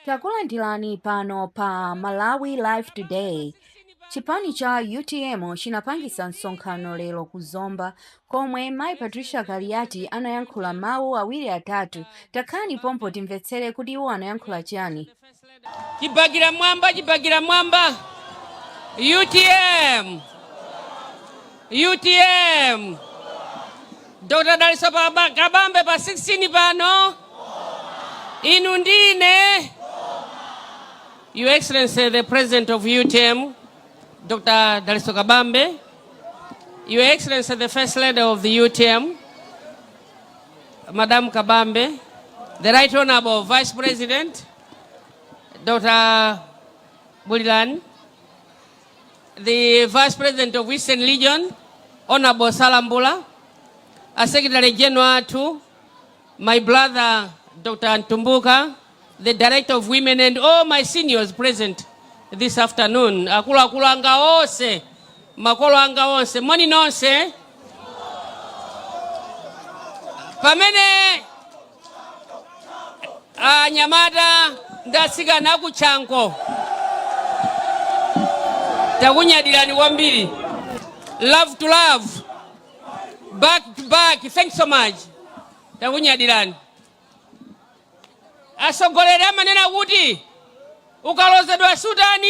Takulandirani pano pa Malawi Live Today. Chipani cha utm chinapangisa msonkhano lero ku Zomba komwe Mai Patricia Kaliati anayankhula mawu awiri atatu. Takhalani pompo timvetsere kuti iwo anayankhula chani. Chipaka mmwamba, Chipaka mmwamba. UTM. Utm! Dr. Dalitso Paba- Kabambe pa 16 pano. Inu ndine. Your Excellency, the President of UTM, Dr. Daliso Kabambe, Your Excellency, the First Lady of the UTM, Madam Kabambe, the Right Honorable Vice President, Dr. Bulilan, the Vice President of Eastern Region, Honorable Salambula, a Secretary General to my brother Dr. Antumbuka, the Director of Women and all my seniors present this afternoon. Akula akula anga onse, makolo anga onse, moni nonse. Pamene anyamata ndi atsikana aku chanco takunyadirani kwambiri love to love back to back thanks so much takunyadirani atsogoleri amanena kuti ukalozedwa sutani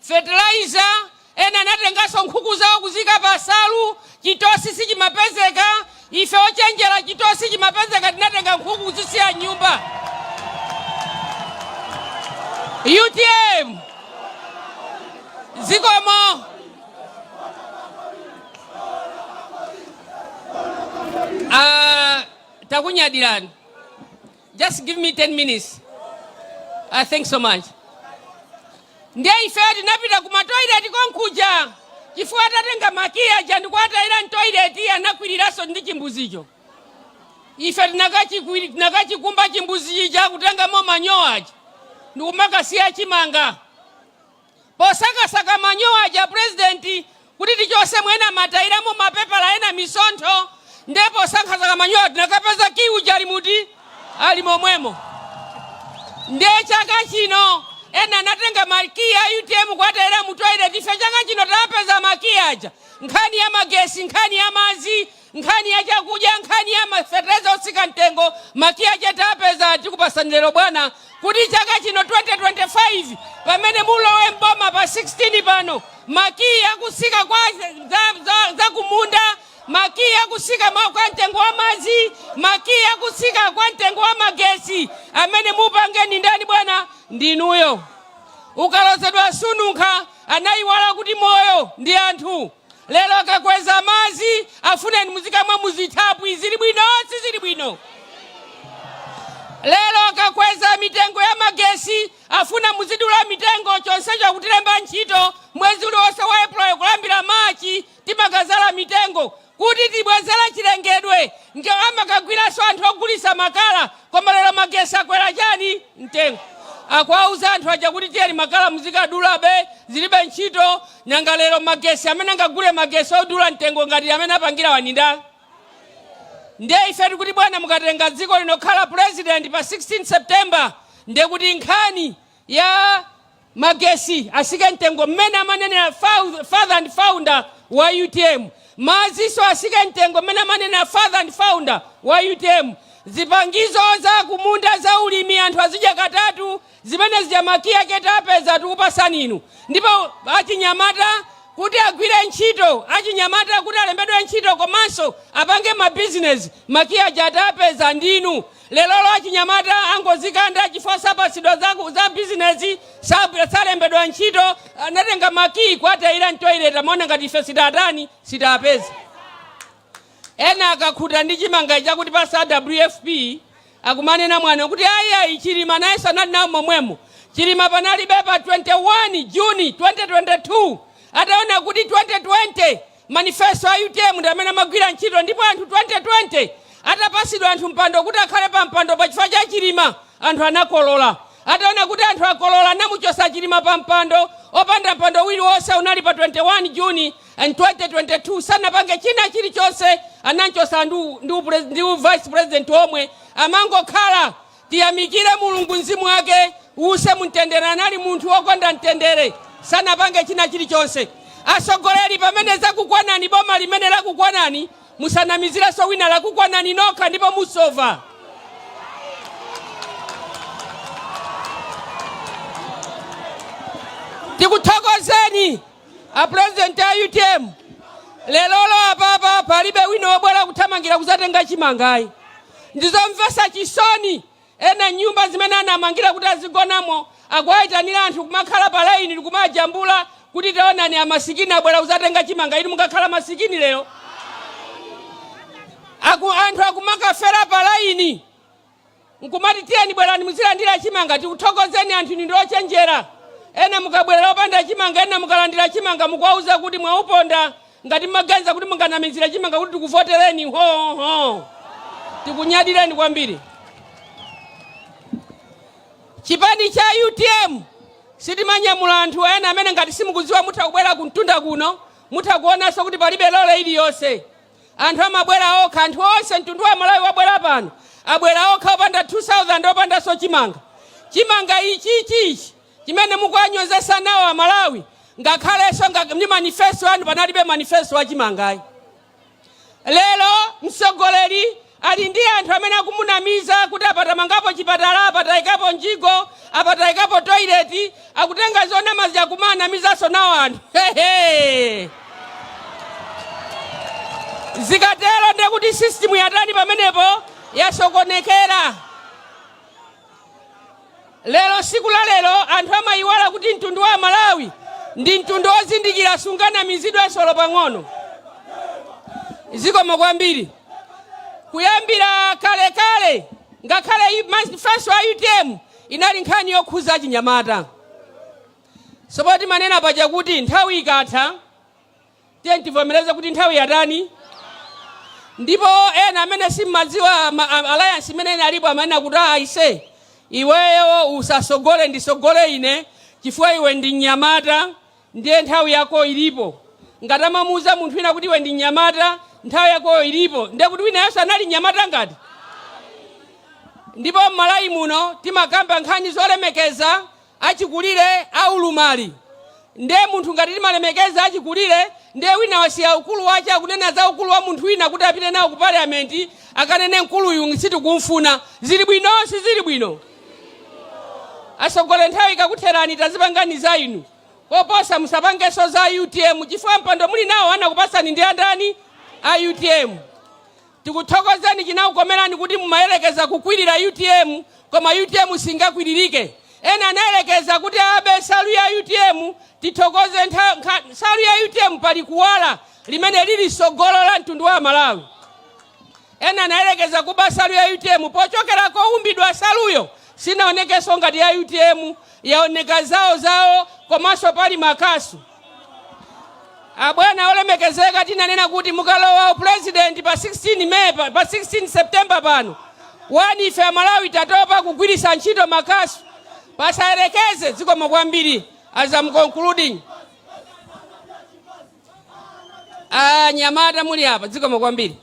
fertilizer, ena anatenganso nkhuku zawo kuziika pa nsalu, chitosi sichimapezeka, ife ochenjera chitosi chimapezeka tinatenga nkhuku kuzisiya mnyumba. Utm! Zikomo! Aaa takunyadirani. Just give me 10 minutes. Uh, thanks so much. Ndiye ife tinapita ku matoilet konkuja chifukwa anatenga makiya aja ndikuwatayira mtoilet anakwiriranso ndi chimbuzicho. Ife tinakachikwiri- tinakachikumba chimbuzichi ja kutengamo manyowa aja ndikumakasiya chimanga. Posakasaka manyowa aja a president kuti tichotsemo ena amatayiramo mapepala ena misontho nde posakasaka manyowa tinakapeza key uja ali muti ali momwemo nde chaka chino ena anatenga ma key a utm kuwatayira mu toilet ife chaka chino tapeza ma key aja nkhani ya magesi nkhani ya madzi Nkhani ya chakudya, nkhani ya ma fertilizer otsika mtengo, ma key aja tapeza, tikupasani lero bwana kuti chaka chino 2025 pamene mulowe m'boma pa 16 pano ma key akutsika kwa za, za, za kumunda ma key akutsika kwa mtengo wa madzi ma key akutsika kwa mtengo wa magetsi amene mupange ndi ndani bwana ndinuyo ukalozedwa sununkha anayiwala kuti moyo ndi anthu Lero akakweza madzi afuna muzikamwa muzithaphwi zili bwino sizili bwino? Lero akakweza mitengo ya magesi afuna muzidula mitengo chonsecho akutilemba ntchito mwezi uliwonse wa April kulambira March timakazala mitengo kuti tibwezere chilengedwe nde amakagwiranso anthu ogulisa makala koma lero magesi akwera chani? mtengo. Akuwauza anthu aja kuti tiyeni makala muzikadulabe, zilibe ntchito, nanga lero magesi amene angagule magesi odula mtengo ngati amene apangirawa ndi ndani? Ndiye ife tikuti bwana mukatenga dziko lino kukhala president pa 16 September ndekuti nkhani ya. magesi atsike mtengo mmene amanenera father and founder wa utm, madzinso atsike mtengo mmene amanenera father and founder wa utm, zipangizo za kumunda za ulimi anthu azidya katatu, zimene zija makiya ake titapeza tikupatsani inu, ndipo achinyamata kuti agwire ntchito, achinyamata kuti alembedwe ntchito komanso apange mabizinezi makiya aja tapeza ndinu, Lerolo achinyamata angozikanda chifukwa sapatsidwa za bizinezi, salembedwa ntchito, anatenga ma key kuwatayira m'toilet amaona ngati ife sitaatani, sitaapeze. Ena akakhuta ndi chimanga ichi akutipatsa a WFP akumanena mwano kuti ayi Chilima nayenso anali nawo momwemo. Chilima panalibe pa 21 June 2022 ataona kuti 2020 Manifesto a utm ndi amene amagwira ntchito ndipo anthu 2020 atapatsidwa anthu mpando kuti akhale pa mpando pa chifukwa cha chilima anthu anakolola ataona kuti anthu akolola anamuchotsa chilima pa mpando opanda mpando uliwonse unali pa 21 june 2022 sanapange china chilichonse anamchotsa ndi u vice president omwe amangokhala Tiyamikire Mulungu mzimu wake uuse mu mtendere anali munthu wokonda mtendere sanapange china chilichonse atsogoleri pamene zakukwanani boma limene lakukwanani musanamizirenso wina lakukwanani nokha ndipo musova. Tikuthokozeni A president a utm lerolo apapa palibe wina wobwera kuthamangira kuzatenga chimangayi ndizomvetsa chisoni ena m'nyumba zimene anamangira kuti azigonamo akuwayitanira anthu kumakhala pa laini nkumajambula kuti taonani amasikini abwera kuzatenga chimanga inu mukakhala masikini lero anthu akumakafera pa laini nkumati tiyeni bwerani muzalandire chimanga tikuthokozeni anthu inu ndi ochenjera ena mukabwerera opanda chimanga ena mukalandira chimanga mukuwauza kuti mwauponda ngati mmaganiza kuti munganamizire chimanga kuti tikuvotereni hoho tikunyadireni kwambiri chipani cha utm sitimanyamula anthu ena amene ngati simukudziwa mutha kubwera kumtunda kuno mutha kuonanso kuti palibe lole iliyonse Anthu amabwera okha, anthu onse, mtundu wa Amalawi wabwera pano, abwera okha opanda 2000, opandanso chimanga. Chimanga ichichi ichi chimene mukuwanyozetsa nawo Amalawi ngakhalenso ndi manifesto anu panalibe manifesto wa chimangayi. Lero mtsogoleri Ali ndi anthu amene akumunamiza kuti apa tamangapo chipatala, apa taikapo mjigo, apa taikapo toilet, akutenga zonama zija kumaanamizanso nawo anthu zikatero ndekuti system yatani pamenepo? Yasokonekera. Lero siku la lero anthu amayiwala kuti mtundu wa amalawi ndi mtundu ozindikira sunganamizidwenso olo pang'ono. Zikomo kwambiri. Kuyambira kale kale ngakhale manifesto a utm inali nkhani yokhuza achinyamata. So poti manena paja kuti nthawi ikatha Tiyeni tivomereze kuti nthawi yatani, ndipo ena amene simmadziwa alliance imene inalipo amanena kuti "Ah, aise iweyo usasogole ndisogole ine chifukwa iwe ndi mnyamata ndiye nthawi yako ilipo ngati amamuuza munthu wina kuti iwe ndi mnyamata nthawi yako ilipo ndiye kuti winayenso anali mnyamata ngati ndipo m'malawi muno timakamba nkhani zolemekeza achikulire a ulumali nde munthu ngati timalemekeza achikulire nde wina wasiya ukulu wache akunena za ukulu wa munthu wina kuti apite nawo ku parliament akanene mkuluyu sitikumfuna zili bwino sizili bwino asogole nthawi ikakutherani tadzipangani za inu koposa musapangeso za utm chifukwa mpando muli nawo anakupasani ndi ndani a utm Tikuthokozeni chinakukomerani kuti mumayerekeza kukwirira utm koma utm singakwilirike ena anayerekeza kuti abe nsalu ya utm tithokoze nsalu ya utm pali kuwala limene lili sogolo la mtundu wa amalawi ena anayerekeza kuba nsalu ya utm pochokera koumbidwa nsaluyo sinaonekenso ngati ya utm yaoneka zawo zawo komanso pali makasu Abwana olemekezeka tinanena kuti mukalowa u president pa 16 May pa pa 16 September pano wani ife amalawi tatopa kugwilisa ntchito makasu pasayelekeze zikomo kwambili as am concluding anyamata muli apa zikomo kwambili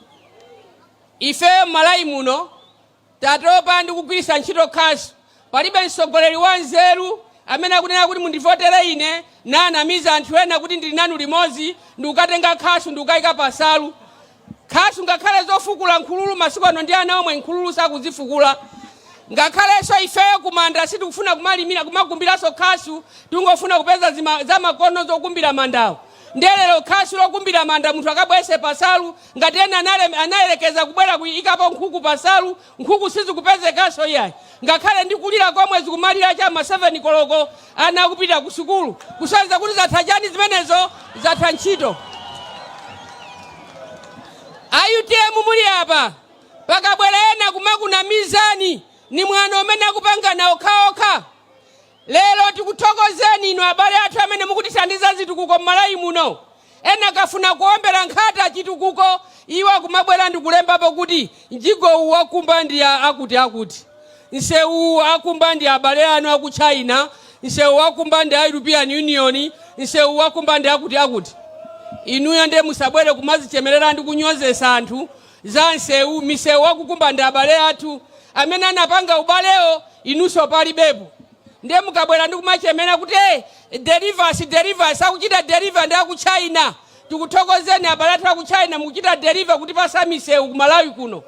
ifeyo mmalawi muno Tatopa ndi kugwiritsa ntchito khasu. Palibe mtsogoleri wa nzeru amene akunena kuti mundivotere ine nanamiza anthu ena kuti ndili nanu limodzi ndikukatenga khasu ndikukaika pa nsalu. Khasu ngakhale zofukula nkhululu masiku ano ndi ana omwe nkhululu sakuzifukula. Ngakhalenso ifeyo kumanda sitikufuna kumalimira kumakumbiranso khasu tikungofuna kupeza zamakono zokumbira mandawo. Nde lero khasu lokumbira manda munthu akabweretse pa nsalu Ngati ena anayerekeza kubwera kuikapo nkhuku pa nsalu, nkhuku sizikupezekanso iyayi. Ngakhale ndi kulira komwe zikumalira cha m'ma 7 koloko ana akupita ku sukulu. Kusonyeza kuti zatha chani zimenezo? Zatha ntchito. A utm muli apa, pakabwera ena kumakunamizani, ni mwano umene akupangana okhaokha. Lero tikuthokozeni inu abale athu amene mukutithandiza zitukuko m'Malawi muno. Ena akafuna kuombera nkhata chitukuko iwo akumabwera ndikulembapo kuti mjigo uwu wakumba ndi a akuti akuti, msewu uwu akumba ndi abale anu aku China, msewu uwu wakumba ndi a European Union, msewu uwu wakumba ndi akuti akuti. Inuyo nde musabwere kumazichemerera ndi kunyozesa anthu za nsewu, misewu wakukumba ndi abale athu amene anapanga ubalewo inuso palibepo nde mukabwera ndi kumachemera kuti hey, delivers delivers akuchita deliver ndi aku china tikuthokozeni abale athu aku china mukuchita deliver kutipasa misewu ku malawi kuno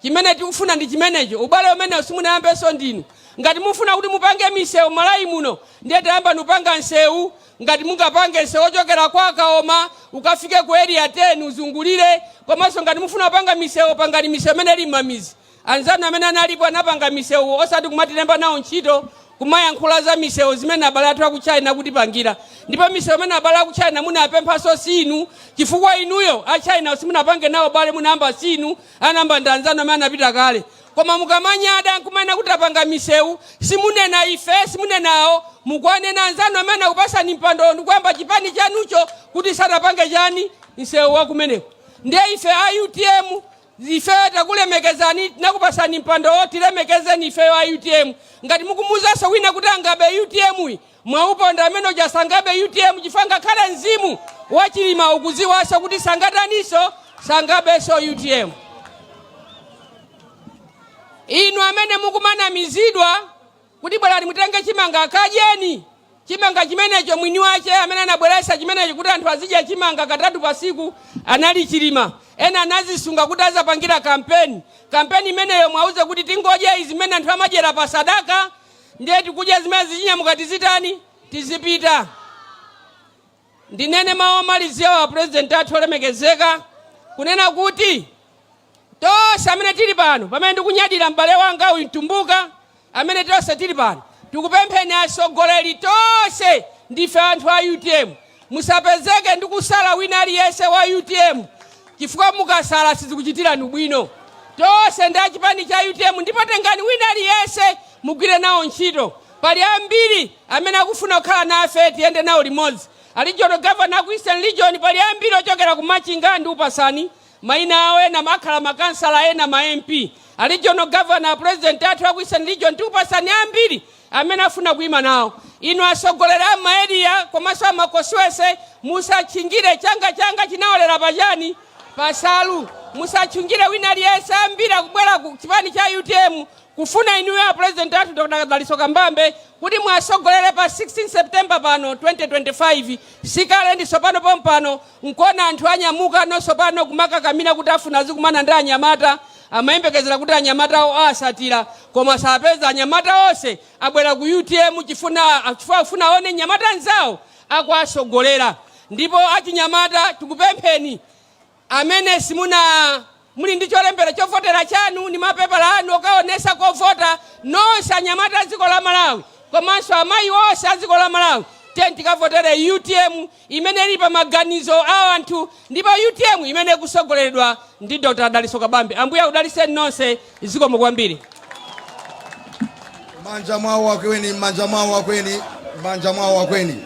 chimene tikufuna ndi chimenecho ubale umenewo simunayambenso ndinu ngati mufuna kuti mupange misewu malawi muno ndiye tayambani kupanga nsewu Ngati mungapange nsewu ochokera kwa Kaoma ukafike ku Area 10 uzungulire komanso ngati mukufuna kupanga misewu pangani misewu imene ili m'mamidzi. Anzanu amene analipo anapanga misewu osati kumatilemba nawo ntchito kumayankhula za misewu zimene abale athu aku China akutipangira. Ndipo misewu imene abale aku China munapemphanso siinu chifukwa inuyo a Chinawo simunapange nawo ubale munayamba siinu anayamba ndi anzanu amene anapita kale. Koma mukamanyada nkumanena kuti tapanga misewu, simukunena ife, simukunena awo, mukuwanena anzanu amene anakupasani mpandowo ndikuyamba chipani chanucho kuti sanapange chani? Nsewu wakumeneko. Ndiye ife a utm ifeyo takulemekezani tinakupasani mpandowo tilemekezeni ifeyo a utm. Ngati mukumuuzanso wina kuti angabe utm-yi, Mwauponda amene uja sangabe utm chifukwa ngakhale mzimu wa Chilima ukudziwanso kuti sangataniso sangabenso utm. Inu amene mukumanamizidwa kuti bwerani mutenge chimanga kadyeni chimanga chimenecho mwini wache amene anabweretsa chimenecho kuti anthu azidya chimanga katatu pasiku anali Chilima ena anazisunga kuti azapangira kampeni kampeni imeneyo mwauze kuti tingodya zimene anthu amadyera pa sadaka Ndiye tikudya zimene zichinyamuka tizitani? Tizipita. Ndinene mawu omaliziawa apulezidenti athu olemekezeka, kunena kuti tonse amene tili pano, pamene ndikunyadira m'bale wanga uyu Mtumbuka, amene tonse tili pano tikupempheni atsogoleri tonse ndife anthu a utm. Musapezeke ndikusala wina aliyense wa utm chifukwa mukasala sizikuchitirani ubwino. Tonse ndi a chipani cha utm ndipo tengani wina aliyense mugwire nawo ntchito. Pali ambiri amene akufuna kukhala nafe tiyende nawo limodzi. A regional governor aku Eastern Region pali ambiri ochokera ku Machinga ndikupasani maina awo ena akhala ma councillor ena ma MP. A regional governor a president athu aku Eastern Region tikupasani ambiri. amene afuna kuima nawo. Inu atsogoleri a m'ma area komanso a ma constituency musatchingire. Changa changa chinaolera pa chani? Pa nsalu. Musatchingire wina aliyense. Ambiri akubwera ku chipani cha utm kufuna inuyo a president athu Dr. Dalitso Kabambe kuti muwatsogolere pa 16 September pano 2025. Sikale ndi tsopano pompano. Nkona anthu anyamuka ndiye tsopano kumakakamila kuti afuna azikumana ndi anyamata, amayembekezera kuti anyamatawo awatsatira koma sawapeza, anyamata onse abwera ku utm chifuna chifukwa akufuna awone mnyamata mnzawo akuwatsogolera ndipo achinyamata tikupempheni, amene simuna. Muli ndi cholembera chovotera chanu ndi mapepala anu okaonetsa kovota nonse anyamata a dziko la Malawi komanso amayi onse a dziko la Malawi tiyeni tikavotere utm imene ili pa maganizo a anthu ndipo utm imene ikutsogoleredwa ndi Dr Dalitso Kabambe. Ambuye akudalitseni nonse zikomo kwambiri. M'manja mwawo akweni, m'manja mwawo akweni, m'manja mwawo akweni.